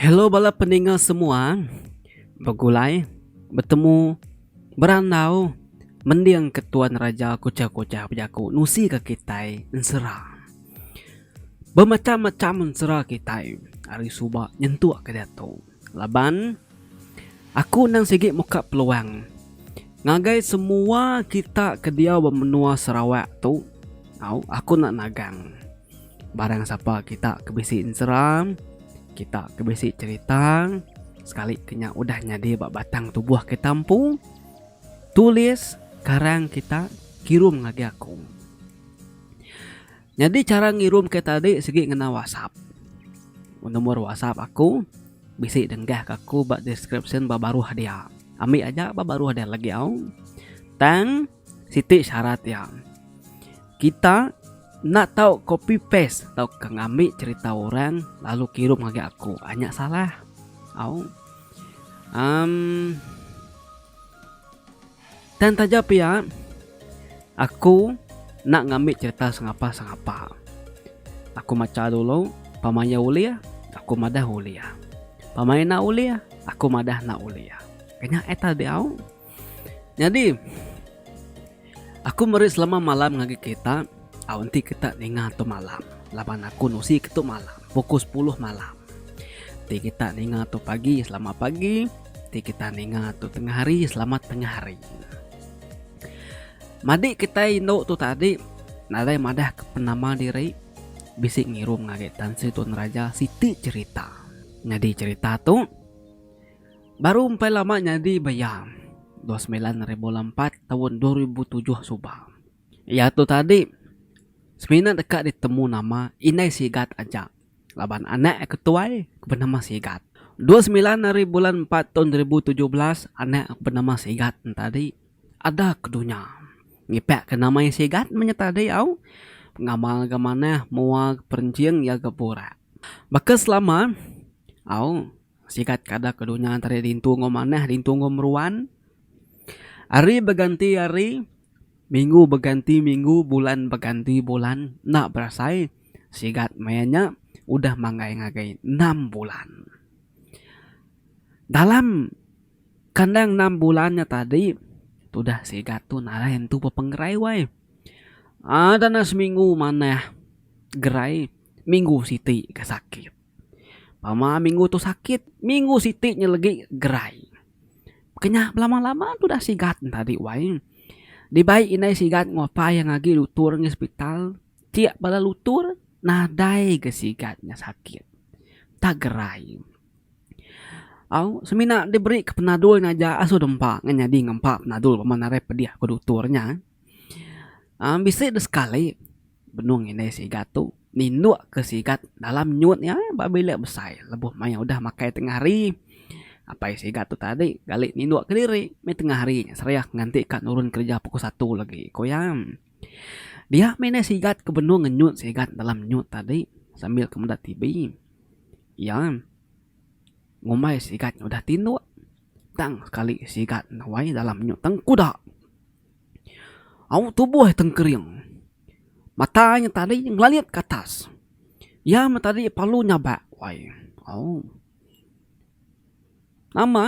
Hello bala peninga semua begulai betemu berandau mending ke tuan raja kuchah-kuchah bejaku nusi ke kitai ensera. Bemacham-macham ensera kitai ari suba nyentuk ke diatu laban aku endang sigi muka peluang ngagai semua kita ke diau ba menua Sarawak tu tau aku enda nagang. Barang sapa kita ke bisi enseram, kita ke bisi cerita sekali ke nya udah nyadi ba batang tubuh kita empu, tulis karang kita kirum ngagai aku. Nyadi cara ngirum ke tadi sigi ngena WhatsApp. Nomor WhatsApp aku bisi denggah ke aku ba description ba baruh dia. Ambi aja ba baruh dia lagi au. Tang Siti syarat iya, kita enda tau copy paste tauka ngambi cerita orang lalu kirum ngagai aku. Ah nya salah. Au. Um tang taja pia aku enda ngambi cerita sengapa-sengapa. Aku macha dulu pama iya ulih aku madah ulih. Pama iya enda ulih aku madah enda ulih. Nya eh tadi au. Nyadi aku meri selama malam ngagai kerita au enti kita ninga tu malam laban aku nusi ke tu malam pukul sepuluh malam enti kita ninga tu pagi selamat pagi enti kita ninga tu tengah hari selamat tengah hari. Madi kitai indu tu tadi nadai madah ke penama diri bisi ngirum ngagai Tan Sri Tun Raja siti cherita. Nyadi cherita tu Baru empai lama nyadi ba iya, dua semilan ribu lalu empat taun dua ribu tujuh suba. Iya tu tadi semina deka ditemu nama Indai Sigat aja laban anak aku tuai ke benama Sigat. Dua semilan ribu lalu empat taun dua ribu tujuh belas anak aku benama Sigat nya tadi ada ke dunya. Ngipakka nama iya Sigat meh nya tadi au ngamal ga manah mua ga perinjing iya ga burak. Baka selama au. Sigat kada ke dunya tadi dintu enggau manah dintu enggau meruan. Hari beganti hari, minggu beganti minggu, bulan beganti bulan. Enda berasai sigat maya nya udah manggai ngagai enam bulan. Dalam kandang enam bulan nya tadi tudah sigat tu nadai nentu bepengerai wai. Ada nya seminggu manah gerai, minggu siti ke sakit. Pama minggu tu sakit, minggu siti nya legi gerai. Kenya belama-lama tu udah sigat enta adi wai. Dibai indai sigat ngupai ngagi dutur ngih sepital, ti bala dutur nadai ga sigat nya sakit. Enta gerai. Au semina diberi ka penadul nya aja asu dep empa ngan nyadi ngempa penadul pama narai pedih ku dutur nya. Am bisi deh sekali. Benung indai sigat tu nindukka sigat dalam nyut iya pabila besai lebuh maya udah makai tengah hari. Apai sigat tu tadi gali nindukka diri meh tengah hari nya seriah nganti ka nurun kereja pukul satu lagi, ku iya. Dia meh indai sigat ke benung ngenyut sigat dalam nyut tadi sambil ke meda TV. Iya ngumbai sigat nya udah tinduk tang sekali sigat nawai dalam nyut tengkuda. Au tubuh tengkering. Mata nya tadi ngelalit ke atas. Iya meh tadi palu nyabak wai. Au. Nama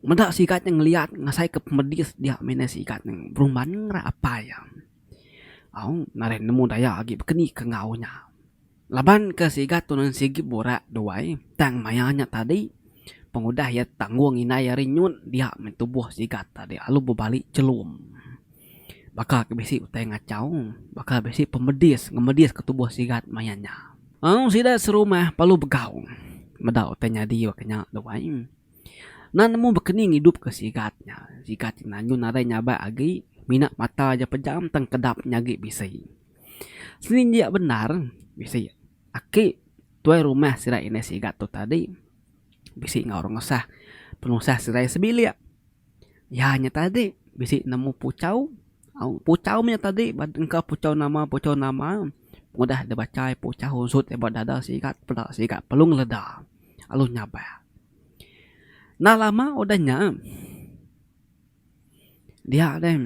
meda sigat nya ngeliat ngasai ke pemedis dia meh nai sigat nya berumban ngera apai iya. Au narai nemu daya agi bekenika enggau nya. Laban ke sigat tu nan sigi burak duai tang maya nya tadi pengudah iya tanggung indai ari nyun dia meh tubuh sigat tadi alu bebali chelum. Baka ke bisi utai ngachau baka bisi pemedis ngemedis ke tubuh sigat maya nya. Au sida serumah perlu begau meda utai nyadi baka nya duai. Nan nemu bekeni ngidup ke sigat nya sigat nya nyun nadai nyabak agi mina mata aja pejam tang kedap nya agi bisi. Seninjak bendar bisi aki tuai rumah sida indah sigat tu tadi bisi enggau orang ngesah penusah sida iya sebilik. Iya nya tadi bisi nemu puchau au puchau nya tadi engka puchau nama puchau nama udah deh bachai puchau onsut deh ba dada sigat peda sigat lalu ngeleda lalu nyabak. Enda lama udah nya. Dia deh,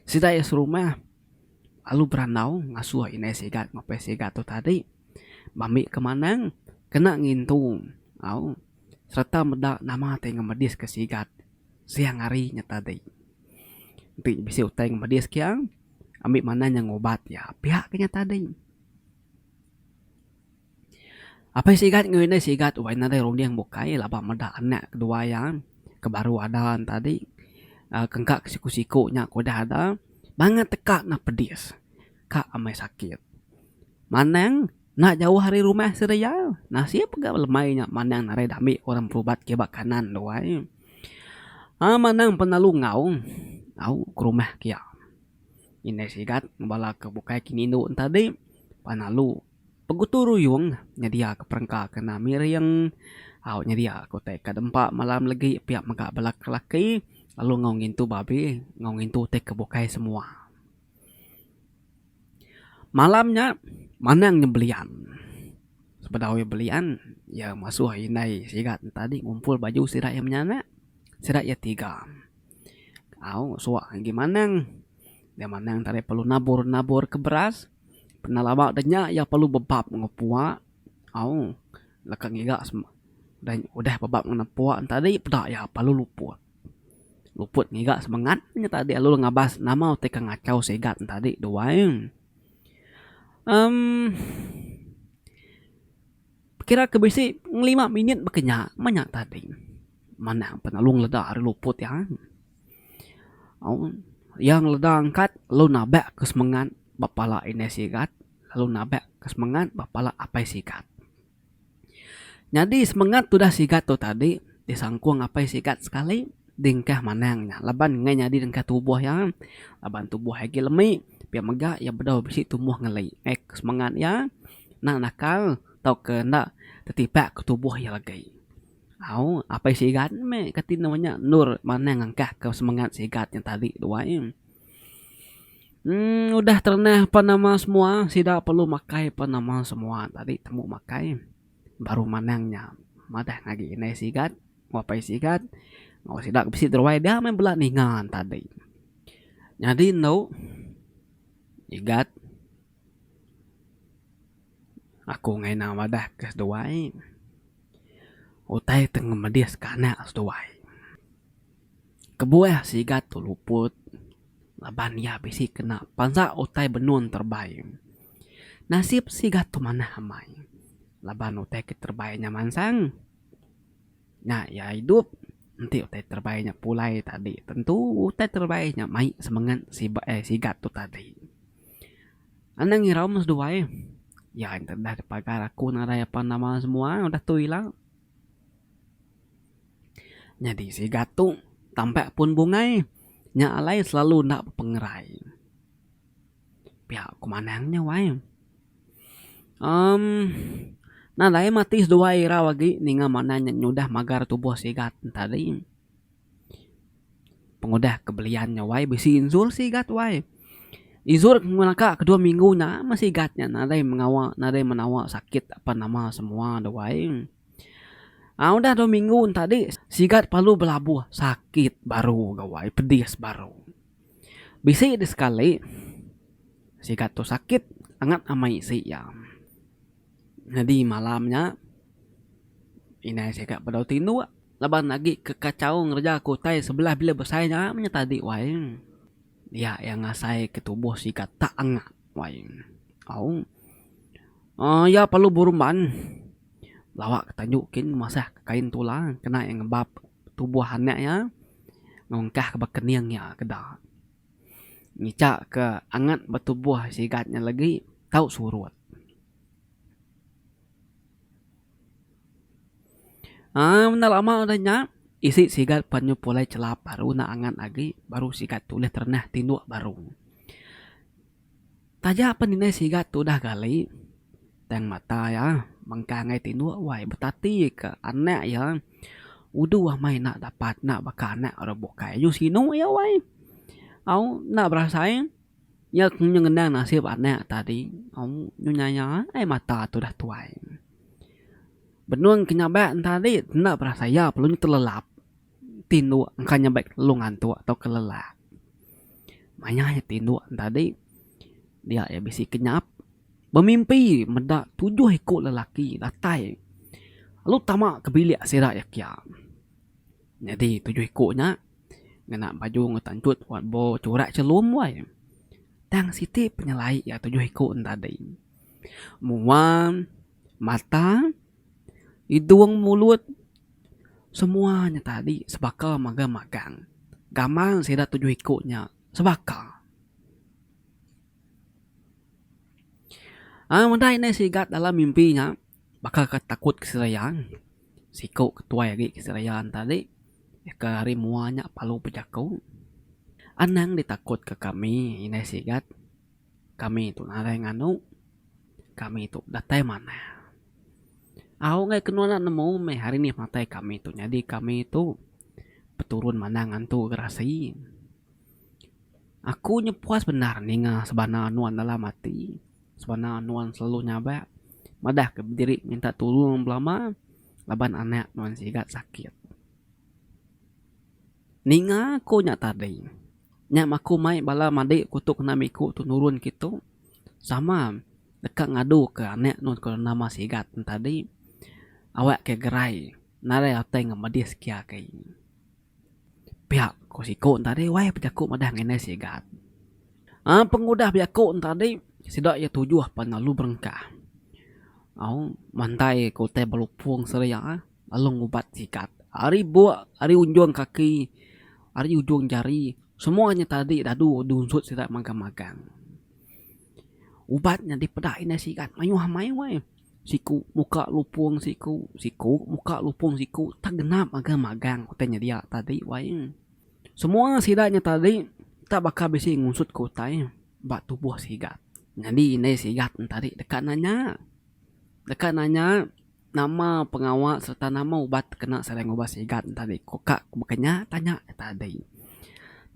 sida iya serumah lalu berandau ngasuh indai sigat ngepeh sigat tu tadi ba mbi ke manang kena ngintu au sereta meda nama ti ngemedis ke sigat siang hari nya tadi. Enti bisi utai ngemedis ke iya, ambi manah inya ngubat iya pia ke nya tadi. Apai sigat enggau indai sigat wak nadai runding bukai laban meda anak kedua iya ke baru ada tadi engka ke siku siku nya ke udah ada banget teka neh pedis ka amai sakit manang enda jauh ari rumah sida iya nasib ga lemai nya manang narai dami orang berubat ke ba kanan tu ai ai manang pun lalu ngaung au ke rumah kiya indai sigat bala ke bukai ke indu tadi pan lalu Pegutu ruyung nyedia ke perengka kena miring au nyedia ke utai ka dempa malam legi pia mega bala ke laki lalu enggau ngintu babi enggau ngintu utai ke bukai semua. Malam nya manang nya belian sebedau iya belian iya masuh indai sigat enta agi ngumpul baju sida iya menyana sida iya tiga au suak agi manang dia manang tadi perlu nabur nabur ke beras. Pernah laba udah nya iya perlu bebap enggau pua au leka ngiga udah bebap ngena pua enti tadi peda iya perlu luput. Luput ngiga semengat nya tadi lalu iya ngabas nama utai ke ngachau sigat nya tadi duai. Em. Kira ke bisi ngelima minit baka nya meh nya tading manah penulung leda ari luput iya. Au iya ngeleda angkat lalu nabak ke semengat ba pala indai sigat lalu nabak ke semengat ba pala apai sigat. Nyadi semengat tudah sigat tu tadi disangkung apai sigat sekali dingkah manang nya laban ngai nyadi dengkah tubuh iya laban tubuh iya agi lemi pia mega iya bedau bisi tumbuh ngeli. Ngai ke semengat iya. Nang nakal tauka enda tetibak ke tubuh iya agai. Au, apai sigat meh kati nemu nya endur manah ngangkahka semengat sigat nya tadi tu ai. Em udah terenah pan nama semua sida perlu makai pan nama semua tadi tembu makai baru manang nya madah agi indai sigat enggau apai sigat enggau sida ke bisi deruai dia meh bela ninga tadi. Nyadi enu sigat. Aku ngena madah ke seduai utai ti ngemedis ke anak seduai. Kebuah sigat tu luput laban iya bisi kena pansa utai benun terebai. Nasib sigat tu manah amai laban utai ke terebai nya mansang. Nya iya idup enti utai terebai nya pulai tadi tentu utai terebai nya mai semengat sibat sigat tu tadi. Anang irau meh seduai eh. Ya intu dah pagar aku nadai apan nama semua udah tu ila. Nyadi siga tu Tampa pun bungai nya alai selalu enda bepengerai. Pia ku manang nya wai uhh nadai matik seduai irau agi ninga manang nya nyudah magar tubuh siga tadi. Pengudah ke belian nya wai bisi inzur sigat wai. Inzur meh naka ke dua minggu nya meh sigat nya nadai mengawa nadai menawa sakit apan nama semua de wai. Aaa udah dua minggu nya tadi sigat perlu belabuh sakit baru ga wai pedis baru. Bisi de sekali sigat tu sakit angat amai isi iya. Nyadi malam nya, indai sigat bedau tinduk laban agi ke kachau ngereja ke utai sebelah bilik besai nya meh tadi wai. Dia iya ngasai ke tubuh sigat tak angat wai. Au uhh iya perlu berumban lawa ke tanju kin masah ke kain tula kena iya ngebap tubuh anak iya ngungkah ke ba kening iya ke da. ngica ke angat ba tubuh sigat nya legi tau surut. Aaa menda lama udah nya isi sigat pan nyu pulai chelap baru ne angat agi baru sigat tu ulih terenah tinduk baru. Taja pen indai sigat tu udah gali, tang mata iya mengkang ngagai tinduk wai betati ke anak iya udu amai enda dapat enda baka anak orang bukai aju sinu iya wai au enda berasai iya nyau ngenang nasib anak tadi au nyu nyaya ai mata tu udah tuai. Benung ke nyabak tadi enda berasai iya perlu nyu telelap. tinduk engka nyambai ke telu ngantuk atau ke lelak. Mayah aja tinduk enti tadi dia iya bisi kenyap bemimpi meda tujuh iku lelaki datai lalu tama ke bilik sida iya kiya. Nyadi tujuh iku nya ngena baju enggau tanchut wat bo churak chelum wai. Tang siti penyelai iya tujuh iku enti tadi. Mua, mata, idung, mulut. Semua nya tadi sebaka mega magang. Gamal sida tujuh iku nya sebaka. Ai meda indai sigat dalam mimpi nya baka ke takut ke seraya siku ke tuai agi ke seraya ne tadi ke hari mua nya palu bejaku. Anang ditakut ke kami indai sigat Kami tu nadai nganu. Kami tu datai manah. Au enggai ke nuan enda nemu meh hari nih matai kami tu nyadi kami tu peturun manah ngantu gerasi. Aku nya puas bendar ninga sebana nuan dalam ati, sebana nuan selalu nyabak madah ke bediri minta tulung belama laban anak nuan sigat sakit. Ninga ko nya tadi. Nya maku mai bala madi ko tu kena miku tu nurun kitu sama deka ngadu ke anek nun ko nama sigat nun tadi awak ke gerai nadai atai ngan medis ke agi. Pia ko siku nun tadi wai pa jaku madah ngan inai sigat. Aaa pengudah bejaku nun tadi sida iya tujuh pan lalu berengkah. Au mandai ko utai belupong seria. Alung ubat sikat ari buk ari unjung kaki ari ujung jari semua nya tadi dadu dunsut sida magang magang. Ubat nya dipeda indai sigat mayuh amai weh siku muka lupung siku siku muka lupung siku tak genap magang magang utai nya dia tadi wai. Semua sida nya tadi tak baka bisi ngunsut ke utai ba tubuh sigat nyadi indai sigat nya tadi deka nanya deka nanya. Nama pengawa sereta nama ubat ti kena sida ngubah sigat enti ari ku ka ku baka nya tanya iya tadi.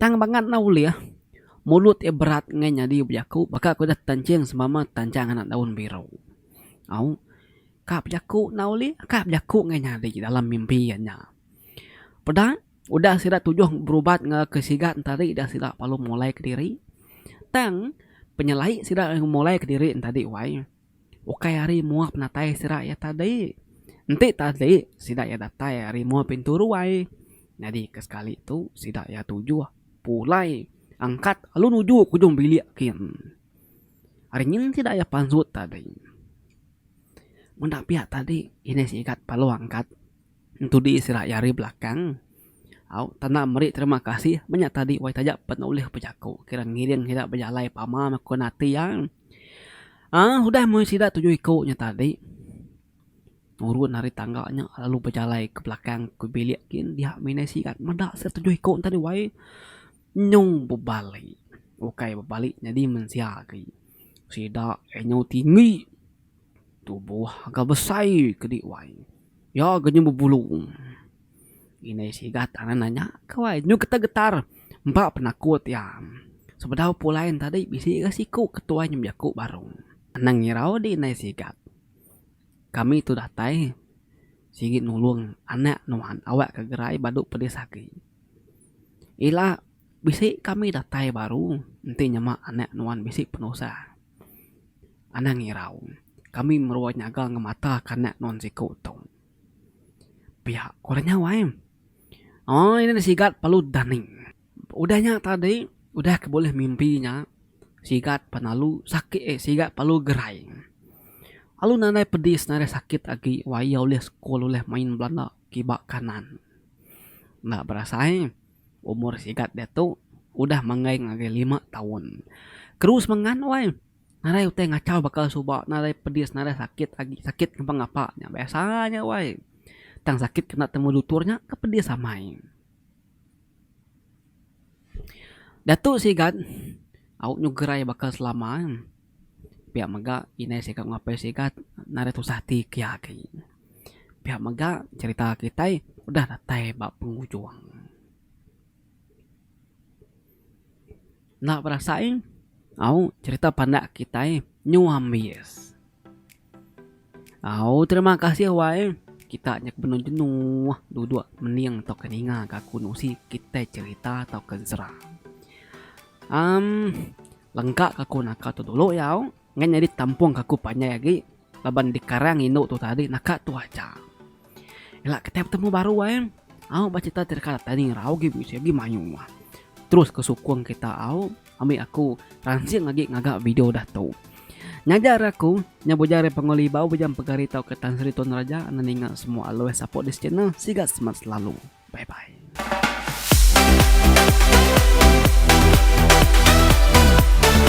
Tang bangat enda ulih mulut iya berat enggai nyadi bejaku baka ku ida tenching sebama tenchang anak daun biru. Au ka bejaku enda ulih ka bejaku enggai nyadi dalam mimpi iya nya. Peda udah sida tujuh berubat ngagai ke sigat enti ari dah sida perlu mulai kediri tang penyelai sida mulai kediri enti ari wai Ukai ari mua penatai sida iya tadi. Enti tadi sida iya datai ari mua pintu ruai nyadi ke sekali tu sida iya tujuh pulai angkat lalu nuju ke ujung bilik kin. Ari nyin sida iya pansut tadi. Meda pia tadi ini sigat lalu angkat. Entu di sirah iya ari belakang. Au, tanda meri terima kasih menya tadi wai taja pen ulih bejaku kira ngiring sida bejalai pama meh ku nati iya. Aaa udah meh sida tujuh iku nya tadi nurun ari tangga nya lalu bejalai ke belakang ke bilik gin dia mina sigat meda sida tujuh iku tadi wai nyung bebali. Ukai bebali nyadi mensia agi. Sida enyu tinggi. Tubuh ga besai ke di wai. Iya ga nyau bebulu. Indai sigat tangan nanya ke wai nyau getar getar empa penakut iya. Sebedau pulai enta tadi bisi ga siku ke tuai nyau bejaku baru. Anang ngirau di indai sigat. Kami tu datai sigi nulung anak nuan awak ke gerai badu pedis agi. Ila bisi kami datai baru enti nyema anak nuan bisi penusah. Anang irau, kami merua nyaga ngemata kanak nuan siko tu. Pia ko nya awai. Oi nya sigat palut dani. Udah nya tadi, udah ke bulih mimpi nya, sigat penalu sakit eh sigat palu gerai. Alu nadai pedis nadai sakit agi wai iya ulih sekul ulih main belanda kiba kanan. Enda berasai. Umur sigat diatu udah manggaing agi lima taun. Keru semengat wai. Nadai utai ngachau baka suba, nadai pedis, nadai sakit agi. Sakit ngapa ngapa nya biasa nya wai. Tang sakit kena temu dutur nya ke pedis amai. Diatu sigat au nyegerai baka selama. Pia mega indai sida enggau apai sida nadai tusah ati ke agi. Pia mega cerita kitai udah datai ba pengujung. Enda berasai au cerita pandak kitai nyau ambis. Au terima kasih wai. Kita nya ke benung jenuh duduk mening tauka ninga ke aku nusi kitai cerita tauka sera. Um lengka ke aku naka tu dulu iya au ngan nyadi tampung ke aku panjai agi laban dikarang indu tu tadi naka tu aja. Ila kitai betemu baru ai. Au ba cerita ti deka datai ni ngerau agi bisi agi mayuh mah. Terus ke sukung kita au ambi aku ransing agi ngaga video dah tu. Nyaja ari aku, nya bujang ari Pengolah Ibau, bujang Pegari tauka Tan Sri Tun Raja enda ninga semua alui support this channel. Siga semat selalu. Bye bye.